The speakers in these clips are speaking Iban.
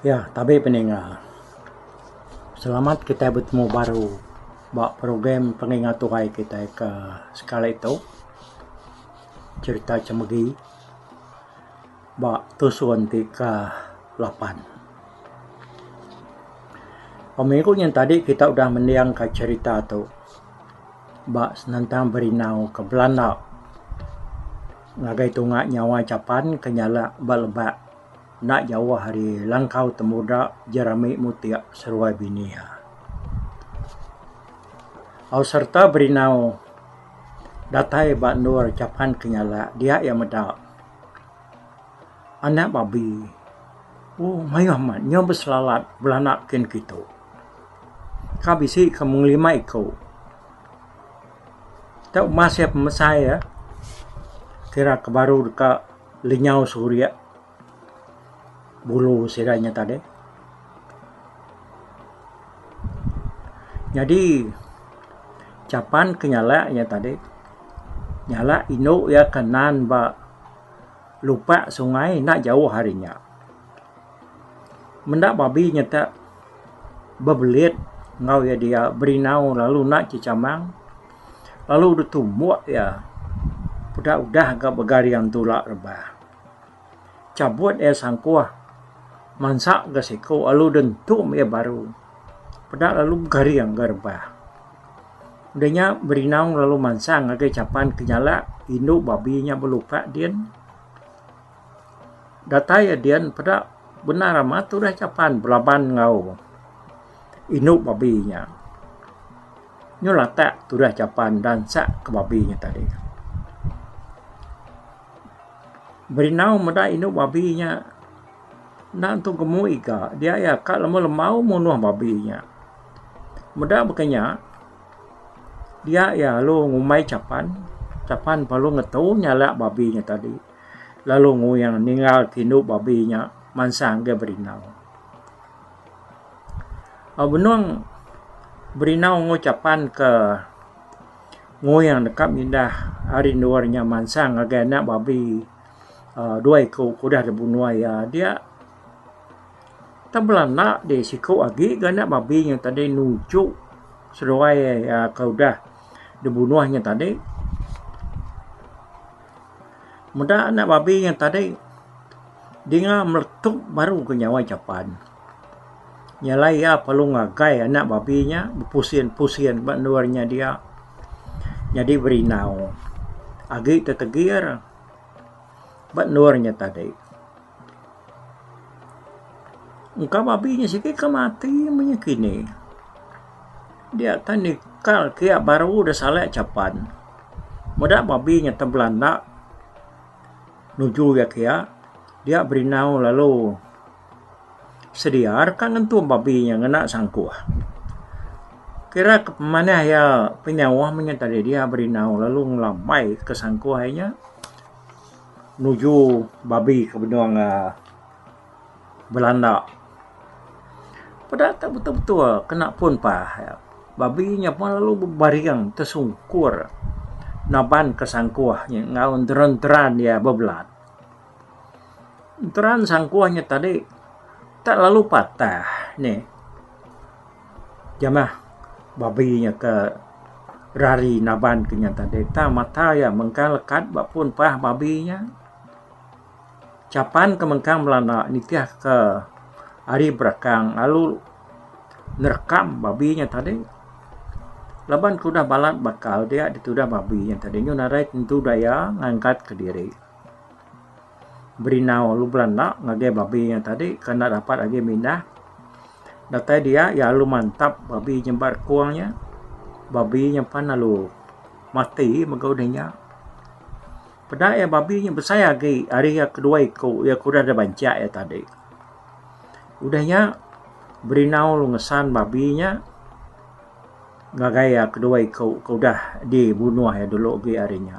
Ya tabe peninga. Selamat kitai betemu baru ba program Penginga Tuai kitai ke sekali tu. Cherita Chemegi. ba tusun ti ke lapan. Ba minggu nyin tadi kita udah mending ka cherita tu ba senentang berindau ke belanda ngagai tunga nyawa Japan ke nyala ba leba enda jauh ari langkau temuda Jerami Mutik seruai bini iya. Au sereta berindau datai ba endur Japan ke nyala dia iya meda. Anak babi. Oh, mayuh amat nya beselalat belanak kin kitu. Ka bisi ka mung lima iku. Kita umbah sia pemesai ya, kira ke baru deka lenyau suri bulu sida nya tadi. Nyadi capan ke nyala iya tadi nyala indu iya ke nan ba lupa sungai enda jauh ari nya. Menda babi nyetak bebelit enggau iya diak berinau lalu enda chichamang lalu ditumbuk iya peda udah ga begaring tula rebah. Cabut iya sangkuh. Mansa ga siku alu deh entum iya baru. Peda lalu garing ga rebah. Udah nya Berinaung lalu mansang ngagai chapan ke nyala indu babi nya beluka din. Datai iya din peda bendar amat tudah chapan belaban enggau indu babi nya. Nyu latak tudah chapan enda ensak ke babi nya tadi. Berinau meda indu babi nya enda nentu gemu iga dia iya ka lemu lembau munuh babi nya. Meda baka nya dia iya lalu ngumbai chapan, chapan pa lalu ngetu nyalak babi nya tadi lalu nguing ningal ke indu babi nya mansang ga berinau. Au benung berinau enggau chapan ka. Ngoyang deka mindah ari endur nya mansang ngagai anak babi dua iku ke udah lebuh nuai iya dia. Tang bala enda ti siku agi ga anak babi nya tadi nuchuk seduai iya ke udah dibunuh nya tadi. Meda anak babi nya tadi dinga meletup baru ke nyawa iya chapan. Nya alai iya perlu ngagai anak babbi nya bepusin pusin ba endur nya dia nyadi berindau agi tetegir ba endur nya tadi. Engka babbi nya siti ke mati menya kini dia ke nikal kia baru deh sale chapan meda babbi nya te belanda nuju iya kia dia berindau lalu. sedia deka ngentum babi nya ngena sangkuh. Kira ke pemanah iya penyauh menya tadi dia berinau lalu ngelambai ke sangkuh iya nya nuju babi ke benung um belanda. Peda ke betul-betul ke napun pah iya, babi nya pun lalu bebaring tesungkur naban ke sangkuh nya enggau deran-deran iya bebelat. Enteran sangkuh nya tadi tak lalu patah ne jamah babi nya ke rari naban ke nya tadi tang mata iya mengkang lekat ba pun pah babi nya chapan ke mengkang belanda nitih ke ari berakang lalu nerekam babi nya tadi laban ke udah balat bakal dia ditudah babi nya tadi nyun arai tentu daya ngangkat kediri. Berinau lubra enda ngagai babi iya tadi ke enda dapat agi mindah. Datai dia iya alu mantap babi nyambat kong iya. Babi iya pan alu mati mega udah nya. Peda iya babi nya besai agi ari iya ke dua iku iya ke udah deh banchak iya tadi. Udah nya berinau lu ngesan babi nya ngagai iya ke dua iku ke udah dibunuh iya dulu agi ari nya.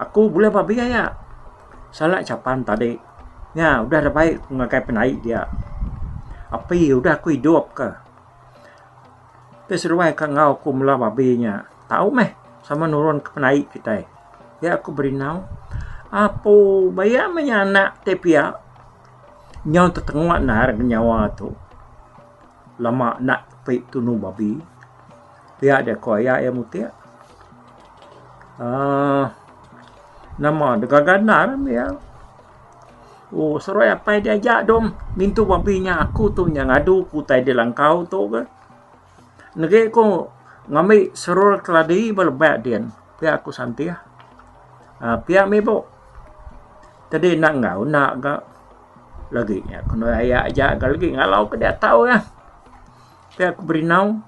Aku bulih ba biai iya. Salak chapan tadi nya udah da bai ku ngagai penai dia. Api udah ku idup ka. Ti seduai ka enggau aku mula babi nya tau meh sama nurun ka penai kitai. Nya aku berindau apo ba iya meh nya anak ti pia nyau tetenga nahar nyawa tu lama enda tepi tunu babi. Pia dia ko iya iya mutik. Um nama de gaga endar embi iya. Oh seruai apai dia aja dong ngintu babi nya aku tu nya ngadu ku utai dia langkau tu ke. Negi ko ngambi serul keladi ba leba din pia ko santih um pia mih bo tadi enda enggau enda ga lagi nya ko aya aja ga lagi ngalau ke dia tau iya. Pia ku Berinau,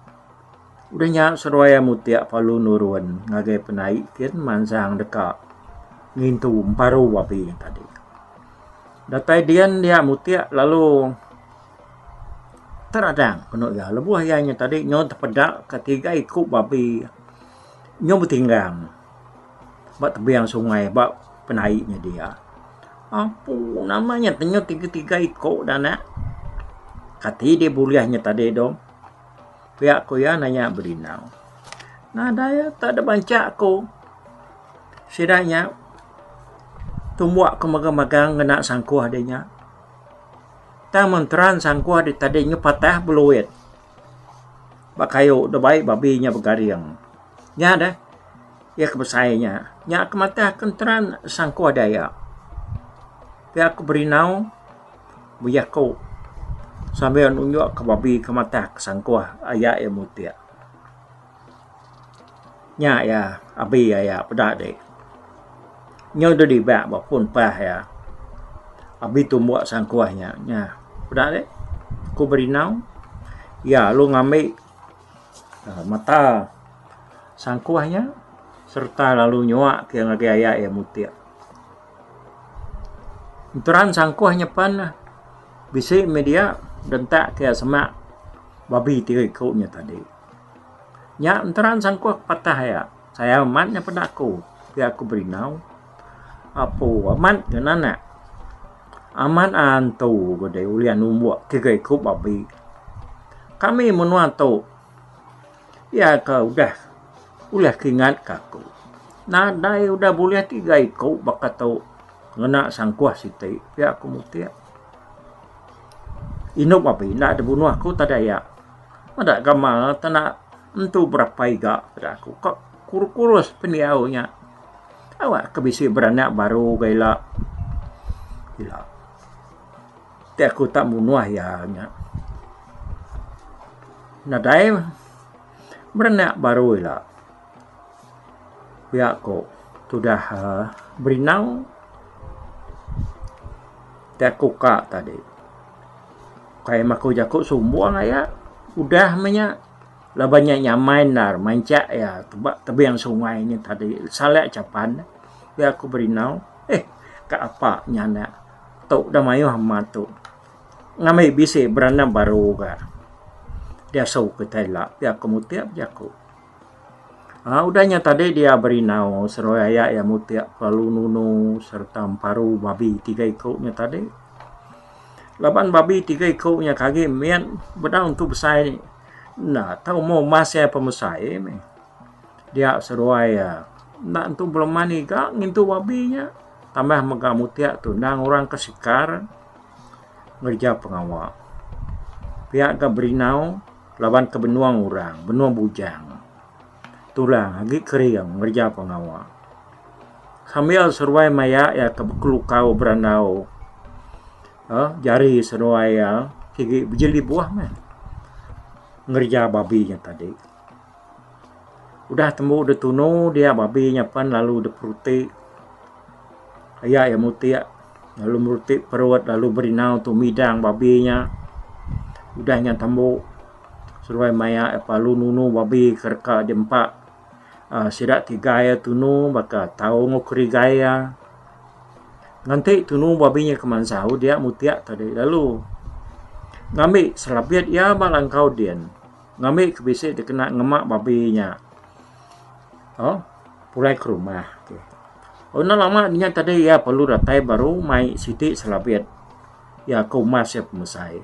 udah nya seruai amu tia palu nurun ngagai penai kin mansang deka ngintu emparu api tadi. Datai dian dia amu tia lalu teradang penu iya lebuh iya nya tadi nyau tepeda ka tiga iku babi nyau betinggang. ba tebing sungai ba penai nya dia apu nama nya tenyau tiga tiga iko da anak kati dia bulih nya tadi tu pia ko iya na iya belinau nadai tak ada banca ko sida nya tumba ko megang megang ngena sangkuh dia nya tang mentera sangkuh dia tadi nya patah beluit. Ba kayu da baie babi nya begaring. Nya deh iya ke besai nya. Nya ke mateh ke nteran sangkuh deh iya. Pia ke berinau be jaku sambil nunjuk ke babi ke mateh ke sangkuh aya iya mutik. Nya iya abi aya peda adi. Nyau deh dibak ba pun pah iya. Abi tumbuk sangkuh nya. Nya peda adi ku berindau iya lalu ngambi aaa mata sangkuh nya serta lalu nyuak ke ngagai aya iya mutik. Enteran sangkuh nya pen neh bisi meh dia dentak ke semak babi ti ku nya tadi. Nya enteran sangkuh ke patah aya. Sayau amat nya peda aku. Pia ku Berindau. Apu amat ke nanak. Amat antu ke dei ulih numbuk tiga iku babi. Kami menua tu pia ke udah ulah kingat ke aku. Nadai udah bulih tiga iku baka tu ngena sangkuh siti pia ku mutih. Indu babi enda dibunuh aku tadai aya. Meda gamal tanda entu berapa iga peda aku ka kurus-kurus pendiau nya. Kawa ke bisi beranak baru ga ila. Ila ti aku tak munuh iya nya. Nadai beranak baru ila. Pia ku tudah berinang ti aku ka tadi kai maku jaku sumbung aya udah meh nya laban nya nya amai endar mancak iya ba tebing sungai nya tadi sala chapan pia ku berinau eh ka apa nya anak tu dah mayuh amat tu ngambi bisi beranak baru ga diasu kitai ila pia ku mutip jaku. Udah nya tadi dia berindau seruai aya iya mutik kelalu nunu sereta emparu babi tiga iku nya tadi laban babi tiga iku nya tadi kagi mit bedau entu besai enda tau umur mas iya pemesai mih dia seruai iya enda entu belema niga ngintu babi nya tambah mega mutik tu endang orang ke sikar ngereja pengawa pia ga berindau. laban ke benung orang, benung bujang tulang agi kering ngereja pengawa. Sambil seruai maya iya ke bekelukau berandau eh, jari seruai iya sigi bejeli buah meh ngereja babi nya tadi. Udah tembu deh tunu dia babi nya pen lalu deh peruti aya iya mutik lalu meruti perut lalu berinau tu midang babi nya udah nya tembu seduai maya iya pelalu nunu babi ke reka deh empa aaa sida tiga iya tunu baka tau enggau kerigai iya ngenti tunu babi nya keman sau dia mutik tadi lalu ngambi selabit iya ba langkau din. Ngambi ke bisi dikena ngema babi nya oh pulai ke rumah. Oh enda lama dinya tadi iya perlu datai baru mai siti selabit iya ke umas iya pemesai.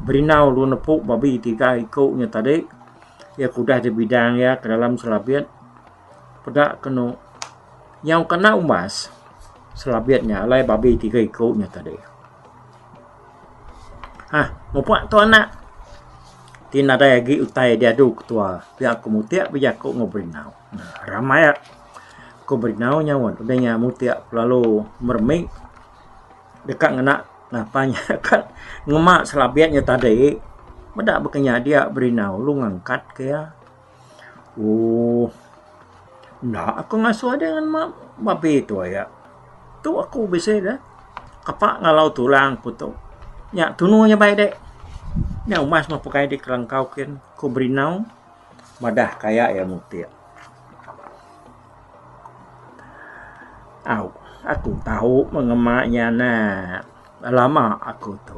Berindau lu nepu babi tiga iku nya tadi iya ke udah dibidang iya ke dalam selabit. Peda kenu nyau kena umbas selabit nya alai babi tiga iku nya tadi. Ha mupa tu anak ti nadai agi utai diadu ketua pia ku mutik ku bejaku enggau Brindau. Ramai ku Brindau nyaut udah nya mutik lalu meremik deka ngena ngapa nya ka ngema selabit nya tadi meda baka nya dia Brindau lu ngangkat ke iya. Ooh. Enda aku ngasuh adeh ngan mak babeh tu aya. Tu aku bisi deh kapa ngalau tulang ku tu. Nya tunu nya bai dek. Nya umas meh pekai dek kelangkau kin ku berinau madah ka iya iya mutik. Au aku tau meh ngema iya neh. Dah lama aku tu.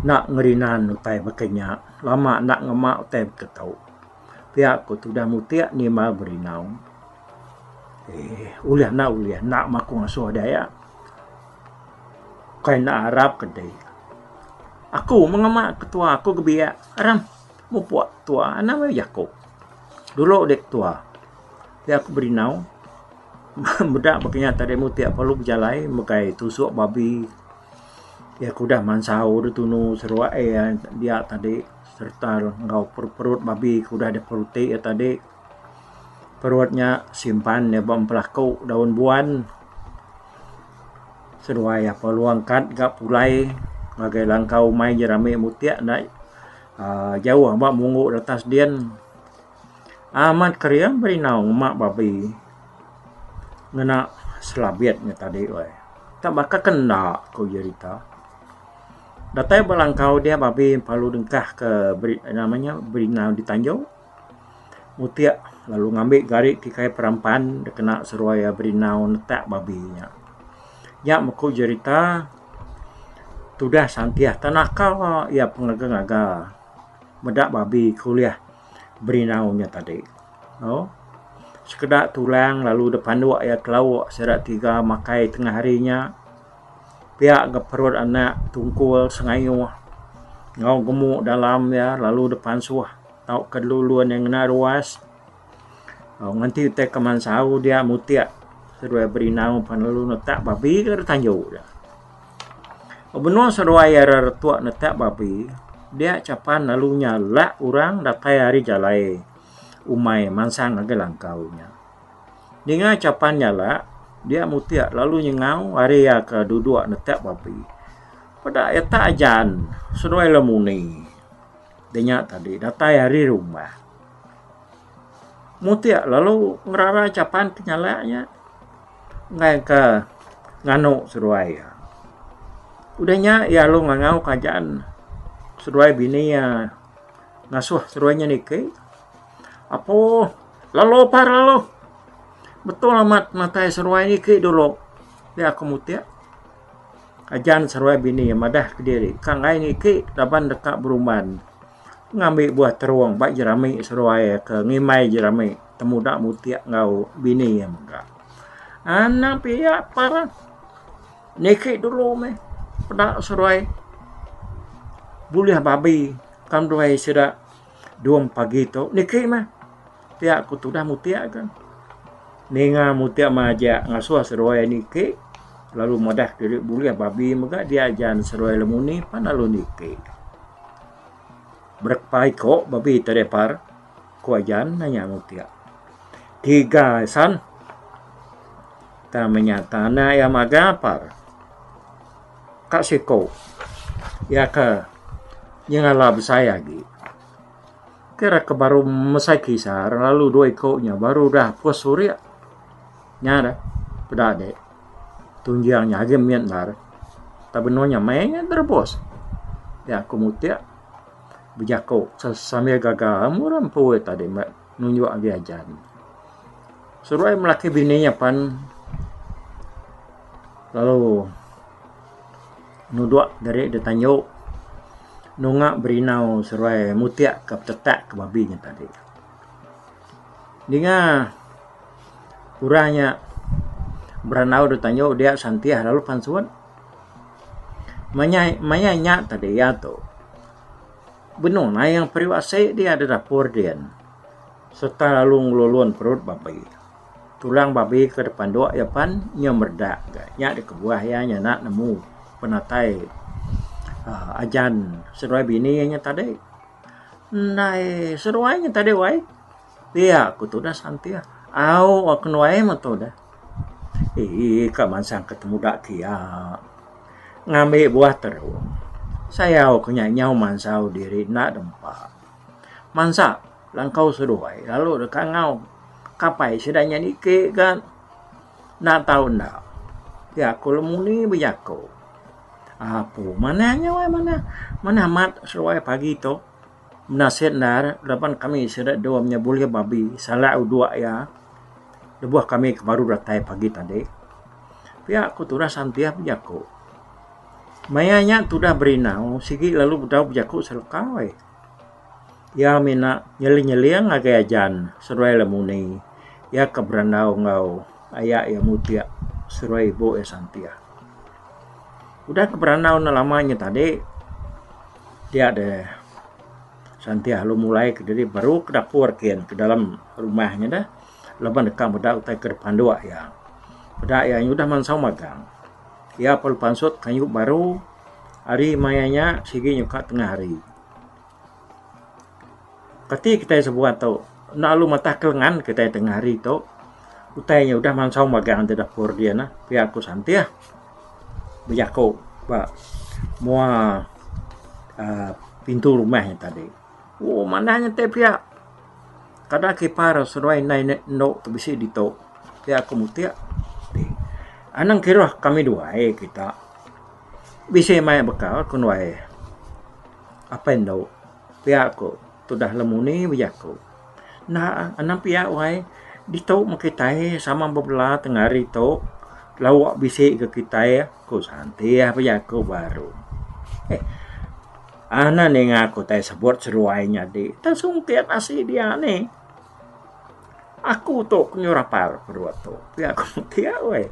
Enda ngerinan utai baka inya. Lama enda ngema utai baka tau. Pia ku tudah mutik nima berinau. Eee ulih enda ulih enda maku ngasuh deh iya. Kai enda arap ke dei. Aku meh ngema ketua aku ke biak erem mupuk ketua. Enda meh jaku. Dulu deh ketua. Pia ku berinau. Meda ba kinya ati demo ti perlu bejalai mengkai tusok babi iya ke udah mansau deh tunu seruak iya dia tadi serta enggau perut babi ke udah deh perut ti iya tadi perut nya simpan iya ba pelaku daun buan seduai iya peluang kad ga pulai ngagai langkau umai jerami mutik enda jauh ba munggu retas din. Amat kering berindau ngema babi ngena selabit nya tadi weh. Tang baka ke enda ku jerita. Datai ba langkau dia babi lalu dengkah ke nama nya berindau di tanjung mutik lalu ngambi gari ti kai perampan deka kena seruai berindau netak babi nya. Nya meh ku jerita tudah santih tang naka iya pengaga-ngaga meda babi ke ulih. Berinau nya tadi. Au. Sekeda tulang lalu dep panduk iya ke lauk sida tiga makai tengah hari nya. Pia ke perut anak tungkul sengayuh enggau gemu dalam iya lalu dep pansuh tauka dulu ulun iya ngena ruas. Au nganti utai keman sau dia mutik. Ke dua iya berinau pan lalu netak babi ke ditajuk iya. Ba menua seduai ari retuk netak babi, dia chapan lalu nya lak orang datai ari jalai umai mansang ngagai langkau nya. Ninga chapan nya lak, dia mutik lalu nyengau ari iya ke duduk netak babi. Peda iya tak ajan seduai lemuni. Deh nya tadi datai ari rumah. mutik lalu ngerara chapan ke nyala iya enggai ka nganu seduai iya. Udah nya iya lalu ngangau ka jaan seduai bini iya ngasuh seduai nya niki apo lalu pa lalu betul amat matai seduai niki dulu pia ku mutik ka jaan seduai bini iya madah kediri ka enggai niki laban deka berumban. Pengambi buah terung ba jerami seruai ke ngimbai jerami temuda mutik enggau bini iya mega. Anak pia pah lah niki dulu meh peda seruai bulih babi kan duai sida duweng pagi tu niki meh. Mutia ku tudah mutia ke. Ninga mutia majak ngasuh seruai niki lalu madah diri bulih babi mega diaja nda seruai lemuni pan lalu niki. Berepa iko babi ti ari par ku ajan ne nya mutia. Tiga asan tama nya tana iya maga par ka siko iya ke nyengala besai agi. Ke ra ke baru mesai kisa ra lalu dua iko nya baru dah pus surik nya dah peda agi tunjang nya agi mit endar tak benung nya mei nya da rebus nya aku mutik bejako sambil gaga amu ram empu tadi. nunjuk agi ajar nya. Seruai melaki bini nya pan lalu nudok diri dep tanju nunga berinau seruai mutik ka petetak ka babi nya tadi. Dinga orang nya beranau dep tanju dia santih lalu pansut. Maya maya nya tadi ia tu. Benung nayang periuk asi dia da dapur din sereta lalu ngelulun perut babi. Tulang babi ke dipanduk iya pan nyau meredak ga. Nya dikebuah iya nyana nemu penatai aaa ajan seduai bini iya nya tadi. Ndai seduai nya tadi wai. Pia ku tudah santing. Au wak kenuai meh tudah. Ii ka mansang ke temuda kia ngambi buah terung. Sayau ke nya nyau mansau diri enda dempa. Mansa langkau seduai lalu deh kangau kapai sida nya niki ga enda tau enda. Pia ku lemuni bejaku. Apu manah nya wai manah. Manah mat seduai pagi tu. Nasib endar laban kami sida dua inya bulih babi salak udok iya lebuh kami ke baru datai pagi tadi. Pia ku tudah santih bejaku. Maya nya tudah berinau sigi lalu bedau bejaku seleka weh. Iya mina nyeling nyeling agei ajan seduai lemuni. Iya ke berandau enggau aya iya mutik seduai ibu iya santih. Udah ke berandau enda lama nya tadi. Dia de santih lalu mulai ke diri baru ke dapur kin ke dalam rumah nya de laban deka meda utai ke dipanduk iya. Peda iya nyudah mansau magang. Iya perlu pansut kayu baru ari maya nya sigi nyuka tengah hari. Kati kitai sebuah tu enda lalu matah ke lengan kitai tengah hari tu utai nya udah mansau magang da dapur dia neh pia ku santih. bejaku ba mua aaa pintu rumah nya tadi. Ooh manah nya ti pia kada kipak ira seduai indai enda indu ti bisi ditu pia ku mutik ti anang kiruh kami duai kita bisi mai bekal ku duai apai indu. Pia ku tudah lemuni bejaku. Enda anang pia wai ditu meh kitai sama bebela tengah hari tu lawa bisi ke kitai ku Shantia bejaku baru. Heh anak ninga ku tai sebut seruai nyadi. Tang sungkit asi dia nih. Aku tu ku nyu rapal ku dua tu pia ku pia weh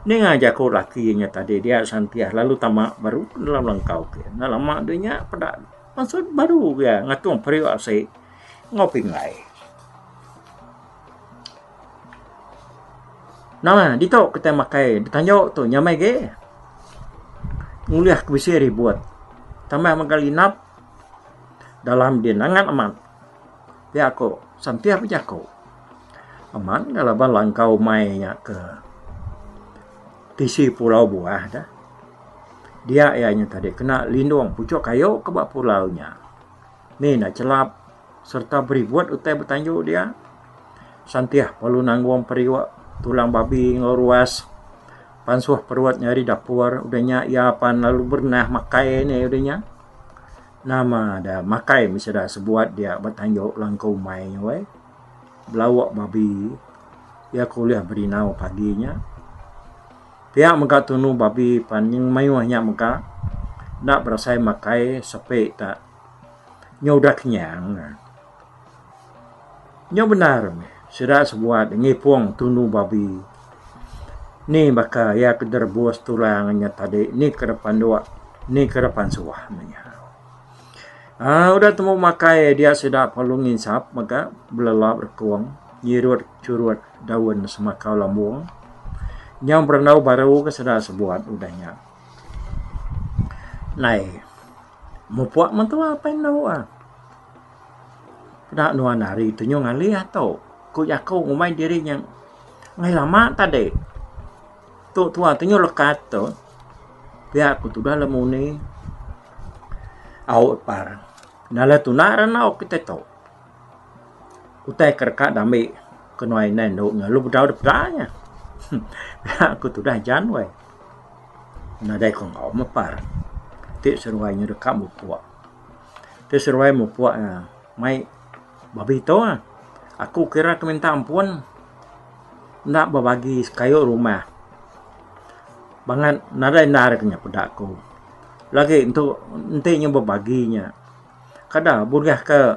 ninga jaku laki inya tadi dia Shantiah lalu tama baru dalam langkau ke enda lama deh nya peda maksud baru pia ngatung periuk asi enggau pingai. Nah ditu kita makai ditanyu tu nyamai ge ngulih ke bisi ribut tambah mega linap dalam deh nangan amat. Ti aku sentiasa bejaku amat enggau laban langkau mai nya ke tisi pulau Buah da dia iya nya tadi kena lindung puchok kayu ke ba pulau nya ni enda chelap serta beribut utai betanju dia sentiasa perlu nanggung periuk tulang babi enggau ruas pansuh perut nyadi dapur udah nya iya pan lalu berenah makai ni udah nya. Nama da makai mih sida sebuat dia ba tanjok langkau umai nya weh. Belawa babi iya ke ulih berinau pagi nya. Pia mega tunu babi pan nyeng mayuh nya mega enda berasai makai sepi ka nyudak nyang. Nyau bendar meh sida sebuat ngipung tunu babi ni baka iya ke deh rebus tulang inya tadi ni ke deh panduk ni ke deh pansuah meh iya. Aaa udah temu makai dia sida perlu nginsap mega belelap rekung nyirut churut daun semakau lambung nyau berendau baru ke sida sebuat udah nya. Nai mupuk mentua pai endu ah. Peda nuan ari tu nyau ngalih ato. Ku jaku ngumbai diri nya enggai lama tadi. Tu tuan tu nyau lekat tu pia ku tudah le muni au par nala tuna ra nau kitai tu. Utai ke deka dami kenuan inan endu lalu bedau dep da nya. Pia ku tudah jan weh. Nadai ku enggau meh par. Ti seduai nya deka mupok. Tu seruai mupuk ne mai babi tu ah. Aku kira ku minta ampun enda bebagi kayu rumah bangat nadai enda ari kinya peda ku lagi tu enti inya bebagi nya kada bulih ke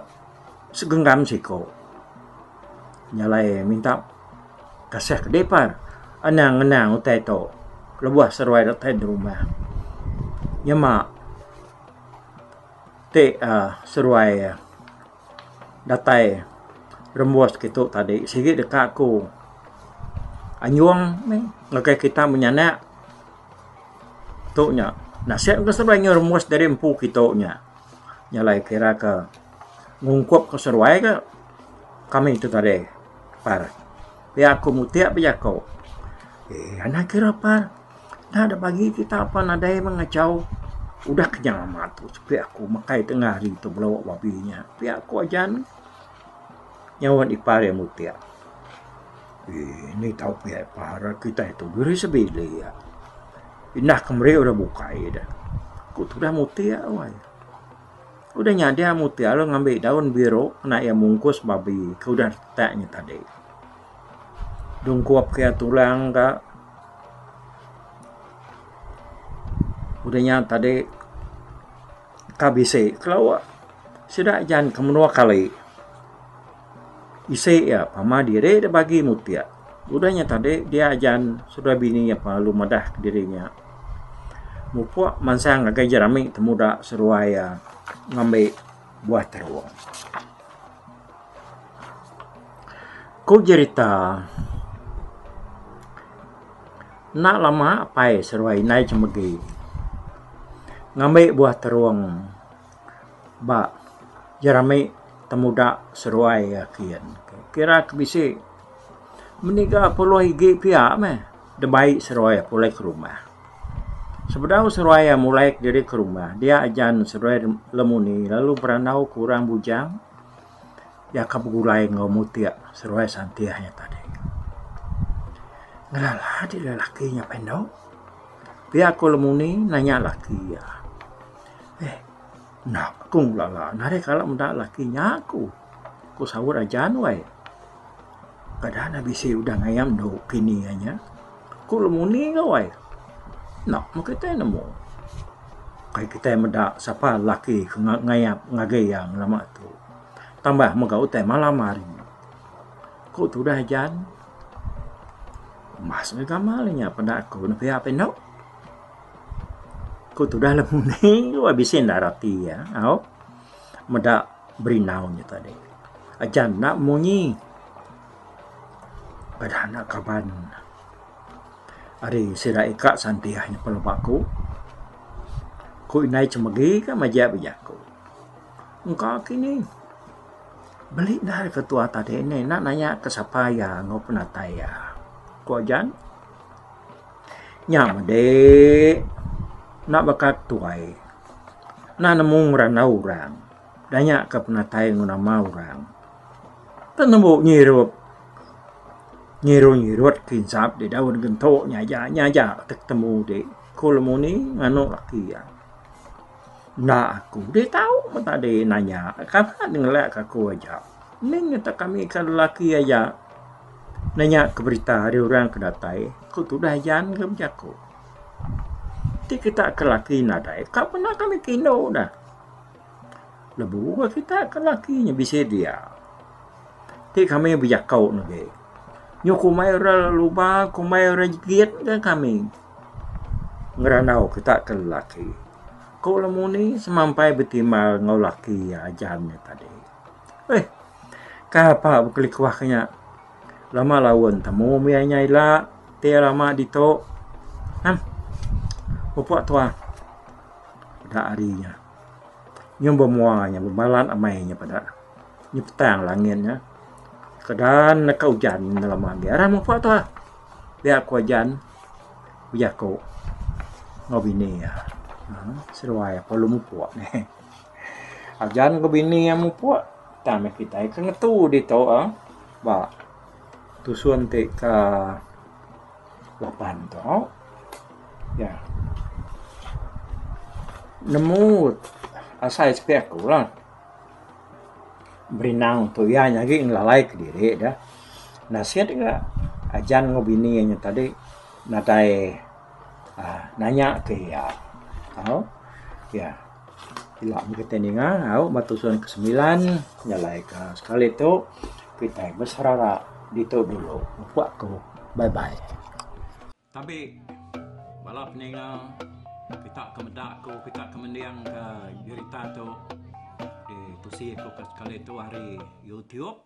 segenggam siku nya alai minta kasih ke depar anang anang utai tu lebuh seruai datai rumah nyema. Ti aaa seruai aaa datai rembus kitu tadi sigi deka ku anjung mih ngagai kita menyanak tu nya nasib ke seruai nyu rembus dari empu kitu nya nya alai kira ka ngungkup ke seruai ka kami tu tadi par pia ku mutik pa jaku eh anang kira par. Enda dep agi kita apan nadai meh ngachau udah ke nyau amat tu sepi aku makai tengah hari tu belo babi nya. Pia ku ajan nyaut ipar iya meh pia. Eee nih tau pia ipar kitai tu geri sebili iya. Indah ke meri udah bukai deh. Ku tudah mutik wai. Ku deh nyadi mutik lalu ngambi daun biru kena iya mungkus babi ke udah retak nya tadi. dungkup iya tulang ka udah nya tadi ka bisi kelo sida jan ke menua kali isi iya pama diri da bagi mutik udah nya tadi dia jan saudara bini iya pelalu madah diri iya mupuk mansang ngagai jerami temuda seduai iya ngambi buah teruk. Ku jerita, enda lama apai seruai indai Chemegi ngambi buah terung ba jerami temuda seruai iya kiyen. Kira ke bisi meniga puluh igi piya meh debai seruai pulai ke rumah. Sebedau seruai iya mulai kediri ke rumah dia ajan seruai lemuni lalu berandau ke orang bujang iya ka begulai enggau mutik seruai santih iya tadi. Ngelala agi lelaki nya pen dau pia ko lemuni nanya laki iya, eh enda ku ngelala nadai kala meda laki nya ku. Ku saut aja nuai. Kada nah bisi udah ngayam endu kini iya nya. Ku lemuni ka uai. Enda mu kitai nemu. Kai kitai meda sapa laki ke ngayap ngagai iya ngelama tu. Tambah mega utai malam hari. Ku tudah Jan. Mas meh gamal inya peda aku ne pia pe indu. Ku tudah lemuni ka uai bisi enda rati iya. Au. Meda berindau nya tadi. Aja enda munyi beda enda kaban ari sida ika santih nyepul ba aku. Ku indai chemegi ka majak ba aku. Engka kini beli dah ari ketua tadi enda nanya ke sapa iya enggau penatai iya. Ku ajan. Nya mede enda baka tuai enda nemu ngerandau orang danya ke penatai enggau nama orang tu tembu nyirup nyiru nyirut ti ensat ti dau dagen tu nya aja nya aja atek temu ti ku lemu ni anok laki iya enda aku ti tau mun tadi nanya kaka ngelak aku aja ning ngatak kami ke lelaki aja. Nanya ke berita ari orang ke datai ku tudah yan ke bejaku ti kita ke laki nadai ka pun aka mih ke indu dah lebu ka kita ke laki nya bisi dia ti kami bejako nege nyu kumai ira luba kumai ira jegit ka kami ngerandau kita ke laki ku lemuni semampai betimbal enggau laki aja nya tadi. Eih. Kai apa bekelikuh ke nya. Lama laun temu mih inya ila ti iya lama ditu. Nah. Pupuk tuah. Udah hari nya. Nyung bemua nya bebalat amai nya peda. Nyi petang langit nya. Kedan neh ka ujan nya lama agi. Aram pupuk tuah. Dia aku ujan. Ujaku enggau bini iya. Seduai aku lalu mupuk. Ajan ke bini iya mupuk tang meh kitai ke ngetu ditu eh ba tusun ti ke lapan tu ya nemu asai sepi aku lah berinang tu iya nyadi ngelalai ke diri deh nasit ga ajan enggau bini iya nyau tadi nadai nanya ke iya tau ya. Ila meh kitai ninga au ba tusun ke semilan nyalaika sekali tu kitai beserara ditu dulu upa aku bye bye. Tabi bala peninga kita ke meda aku kita ke mendingka berita tu ditusi ku sekali tu ari youtube.